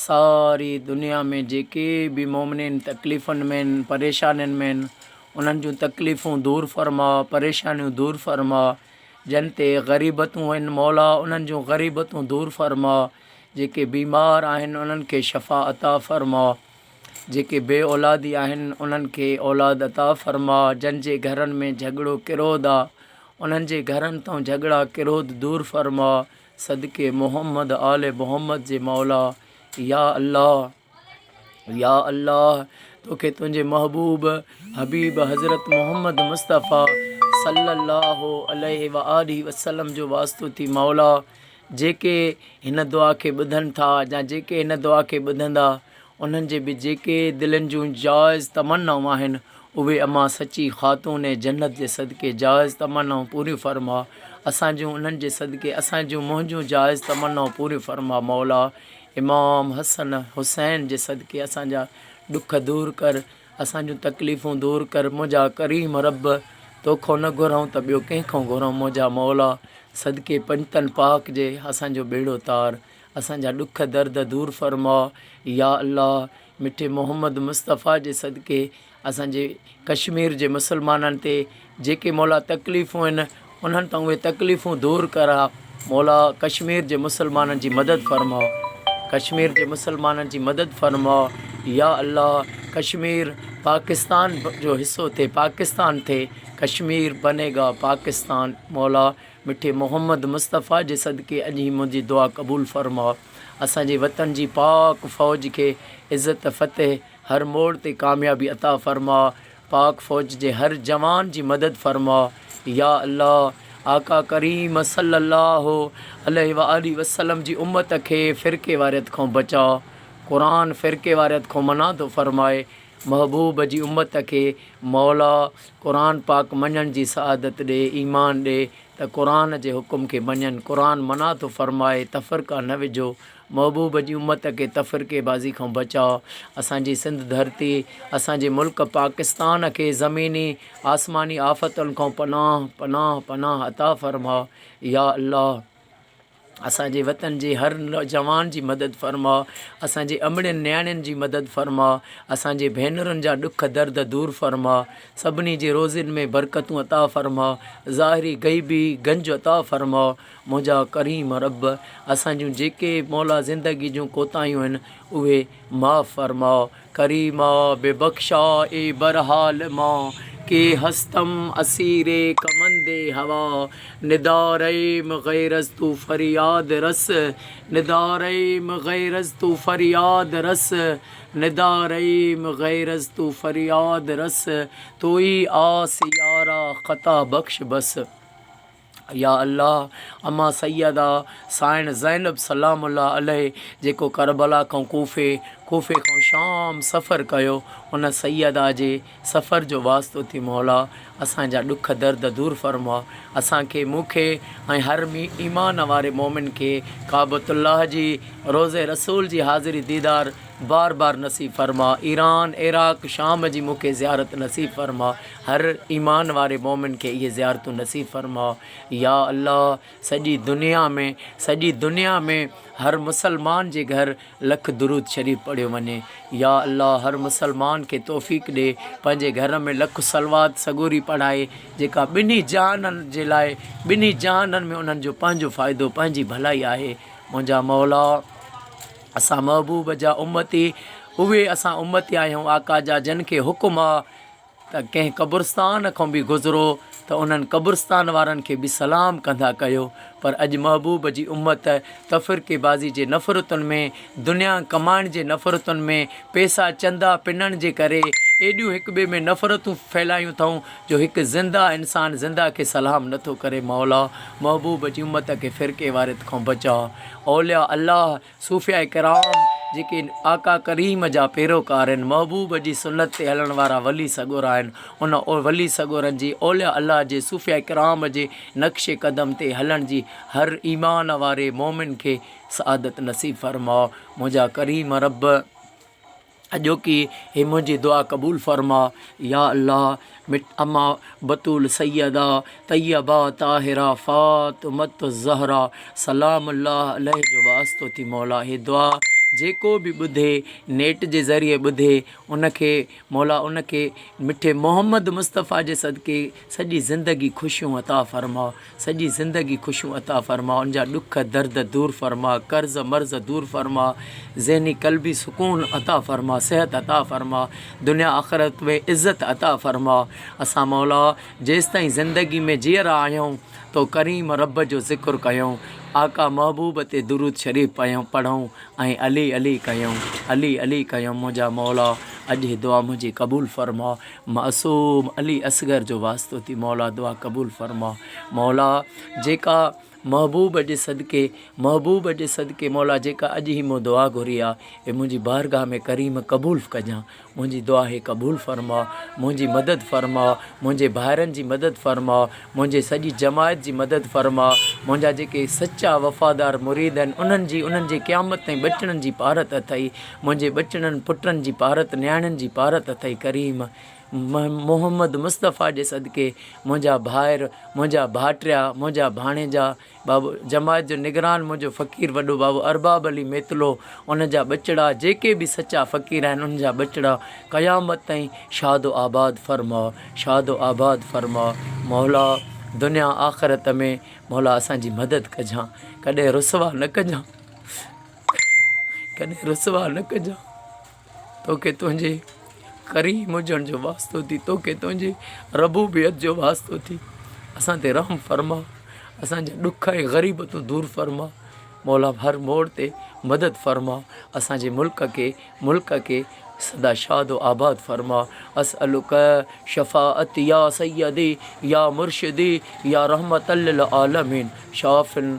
ساري دنيا ۾ جيڪي به مؤمنين تڪليفن ۾ آهن، پريشانين ۾ آهن، انهن جون تڪليفون دور فرماء، پريشانيون دور فرماء، جن تي غريبتون آهن مولا انهن جون غريبتون دور فرماء، جيڪي بيمار آهن انهن کي شفا عطا فرماء، جيڪي بي اولادي آهن انهن کي اولاد عطا فرماء، جن جي گهرن ۾ جهڳڙو ڪرود آ انهن جي گهرن تون جهڳڙا ڪرود دور فرماء، صدقي محمد آل محمد جي مولا يا الله يا الله توکي تنهنجي محبوب حبيب حضرت محمد مصطفي صلي الله عليه واله وسلم جو واسطو ٿي مولا جيڪي هن دعا کي ٻڌن ٿا يا جيڪي هن دعا کي ٻڌندا انهن جي به جيڪي دلين جون جائز تمنائون آهن، اهي امان سچي خاتون جنت جي صدقي جائز تمنائون پوريون فرما، اسان جون انهن جي صدقي اسان جون منهنجون جائز تمنائون پوريون فرما مولا امام حسن حسين جي صدقي اسان جا ڏک دور ڪر اسان جون تڪليفون دور ڪر منهنجا ڪريم رب توکون نه گهرئون ته ٻيو ڪنهن کان گهرئون منهنجا مولا صدقي پنجتن پاڪ جي اسان جو ٻيڙو تار اسان جا ڏک درد دور فرماء يا الله مٺي محمد مصطفيٰ جي صدقي اسان جي ڪشمير جي مسلمانن تي جيڪي مولا تڪليفون آهن انهن تان اهي تڪليفون دور ڪراء مولا ڪشمير جي مسلمانن جي مدد فرماء ڪشمير جي مسلمانن جي مدد فرماء يا الله ڪشمير پاڪستان جو حصو ٿي پاڪستان ٿي ڪشمير بنيگا پاڪستان مولا مٺي محمد مصطفيٰ جي صدقي اڄ هي منهنجي دعا قبول فرماء اسان جي وطن جي پاڪ فوج کي عزت فتح هر موڙ تي ڪاميابي عطا فرماء پاڪ فوج جي هر جوان جي مدد فرماء يا الله آقا ڪريم صلي الله عليه وآله وسلم جي امت کي فرقيواريت کان بچاء قرآن فرقيواريت کان منادو فرماء محبوب جي امت کي موليٰ قرآن پاڪ مڃڻ جي سعادت ڏي، ايمان ڏي ته قرآن جي حڪم کي مڃن، قرآن منع ٿو فرمائي تفرقا نه وجهو، محبوب جي امت کي تفرقي بازي کان بچاء، اسان جي سنڌ ڌرتي، اسان جي ملڪ پاڪستان کي زميني آسماني آفتن کان پناهه پناهه پناهه عطا فرماء يا الله. اسان جي وطن جي هر نوجوان جي مدد فرماء اسان جي امڙين نياڻين جي مدد فرماء اسان جي ڀينرن جا ڏک درد دور فرماء سڀني جي روزين ۾ برڪتون عطا فرماء ظاهري غيبي گنج عطا فرماء منهنجا ڪريم رب اسان جون جيڪي مولا زندگي جون ڪوتاهيون آهن اهي معاف فرماء ڪريما به بخشا اي برحال مان ڪي هستم اسير ڪمند هوا ندا ريم غيرز تو فرياد رس ندا ريم غيرز تو فرياد رس ندا ريم غيرز تو فرياد رس تو ئي آس يارا خطا بخش بس. يا الله! امان سيده سائڻ زينب سلام الله عليه جيڪو ڪربلا کان ڪوفي، ڪوفي کان شام سفر ڪيو، ان سيده جي سفر جو واسطو ٿي مولا اسان جا ڏک درد دور فرماء اسان کي، مون کي ۽ هر ايمان واري مؤمن کي ڪعبة الله جي، روضه رسول جي حاضري ديدار بار بار نصيب فرماء، ايران، عراق، شام جي مون کي زيارت نصيب فرماء، هر ايمان واري مؤمن کي اهي زيارتون نصيب فرماء يا الله سڄي دنيا ۾ سڄي دنيا ۾ هر مسلمان جي گهر لک درود شريف پڙهيو وڃي يا الله هر مسلمان کي توفيق ڏي پنهنجي گهر ۾ لک صلوات سڳوري پڙهائي جيڪا ٻنهي جهانن جي لاء ٻنهي جهانن ۾ انهن جو پنهنجو فائدو پنهنجي ڀلائي آهي منهنجا مولا اسان محبوب جا امتي اهي اسان امتي آهيون آقا جا جن کي حڪم آ ته ڪنهن قبرستان کان به گذرو ته انهن قبرستان وارن کي به سلام ڪندا ڪيو پر اڄ محبوب جي امت تفرقي بازي جي نفرتن ۾ دنيا ڪمائڻ جي نفرتن ۾ پئسا چندا پنڻ جي ڪري ايڏيون هڪ ٻئي ۾ نفرتون ڦهلايون ٿئون جو هڪ زنده انسان زنده کي سلام نٿو ڪري مولا محبوب جي امت کي فرقي واريت کان بچاء اولياء الله صوفياء ڪرام جيڪي آقا ڪريم جا پيروڪار آهن، محبوب جي سنت تي هلڻ وارا ولي سڳورا آهن، ان ولي سڳورن جي اولياء الله جي صوفياء ڪرام جي نقش قدم تي هلڻ جي هر ايمان واري مؤمن کي سعادت نصيب فرماء منهنجا ڪريم رب. اڄوڪي هي منهنجي دعا قبول فرما يا الله مٺ اما بتول سيده طيبه طاهره فاطمة الزهرا سلام الله عليه جو واسطو ٿي مولا هي دعا جيڪو به ٻڌي نيٽ جي ذريعي ٻڌي ان کي مولا ان کي مٺي محمد مصطفيٰ جي صدقي سڄي زندگي خوشيون عطا فرما سڄي زندگي خوشيون عطا فرماء ان جا ڏک درد دور فرماء قرض مرض دور فرماء ذهني قلبي سڪون عطا فرماء صحت عطا فرماء دنيا آخرت ۾ عزت عطا فرماء اسان مولا جيستائين زندگي ۾ جيئرا آهيون تو ڪريم رب جو ذڪر ڪيون آقا محبوب تي درود شريف پيون پڙهون ۽ علي علي ڪيون علي علي ڪيون منهنجا مولا اڄ هي دعا منهنجي قبول فرماء معصوم علي اصغر جو واسطو ٿي مولا دعا قبول فرما مولا جيڪا محبوب جي صدقي محبوب جي صدقي مولا جيڪا اڄ هي مون دعا گهري آ اي منهنجي بارگاھ ۾ ڪريم قبول ڪجان منهنجي دعا هي قبول فرما منهنجي مدد فرما منهنجي ڀائرن جي مدد فرما منهنجي سڄي جماعت جي مدد فرما منهنجا جيڪي سچا وفادار مريد آهن انهن جي انهن جي قيامت تائين ٻچڙن جي پارت اٿئي منهنجي ٻچڙن پٽن جي پارت نياڻين جي پارت اٿئي ڪريم. محمد مصطفيٰ جي صدقي منهنجا ڀائر منهنجا ڀائٽيا منهنجا ڀاڻيجا بابو جماعت جو نگران منهنجو فقير وڏو بابو ارباب علي ميتلو ان جا ٻچڙا جيڪي به سچا فقير آهن انهن جا ٻچڙا قيامت تائين شاد و آباد فرماء شاد و آباد فرماء مولا دنيا آخرت ۾ مولا اسان جي مدد ڪجان ڪڏهن رسوا نه ڪجان. ڪڏهن رسوا نه ڪجان توکي تنهنجي ڪريم هجڻ جو واسطو ٿي توکي تنهنجي ربوبيت جو واسطو ٿي اسان تي رحم فرما اسانجا ڏک ۽ غريب تون دور فرما مولا هر موڙ تي مدد فرما اسانجي ملڪ کي ملڪ کي سدا شاد و آباد فرما اسألک شفاعت يا سيدي يا مرشدي يا رحمت للعالمين شافن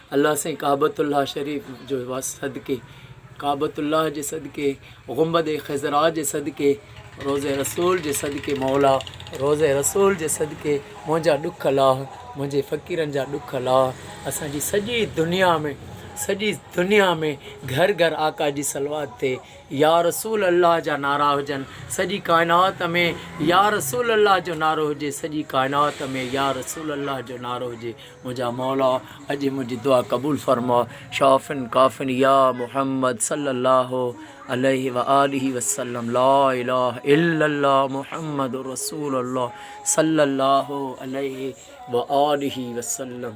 الله سائين ڪعبة الله شريف جو واسطي صدقي ڪعبة الله جي صدقي غنبد خضراء جي صدقي روضه رسول جي صدقي مولا روضه رسول جي صدقي منهنجا ڏک لاهه منهنجي فقيرن جا ڏک لاهه اسان جي سڄي دنيا ۾ سڄي دنيا ۾ گهر گهر آقا جي صلوات ٿئي يا رسول الله جا نعرا هجن سڄي ڪائنات ۾ يا رسول الله جو نعرو هجي سڄي ڪائنات ۾ يا رسول الله جو نعرو هجي منهنجا مولا اڄ منهنجي دعا قبول فرماء شافن ڪافن يا محمد صلي الله عليه وآله وسلم لا اله الا الله محمد رسول الله صلي الله عليه وآله وسلم.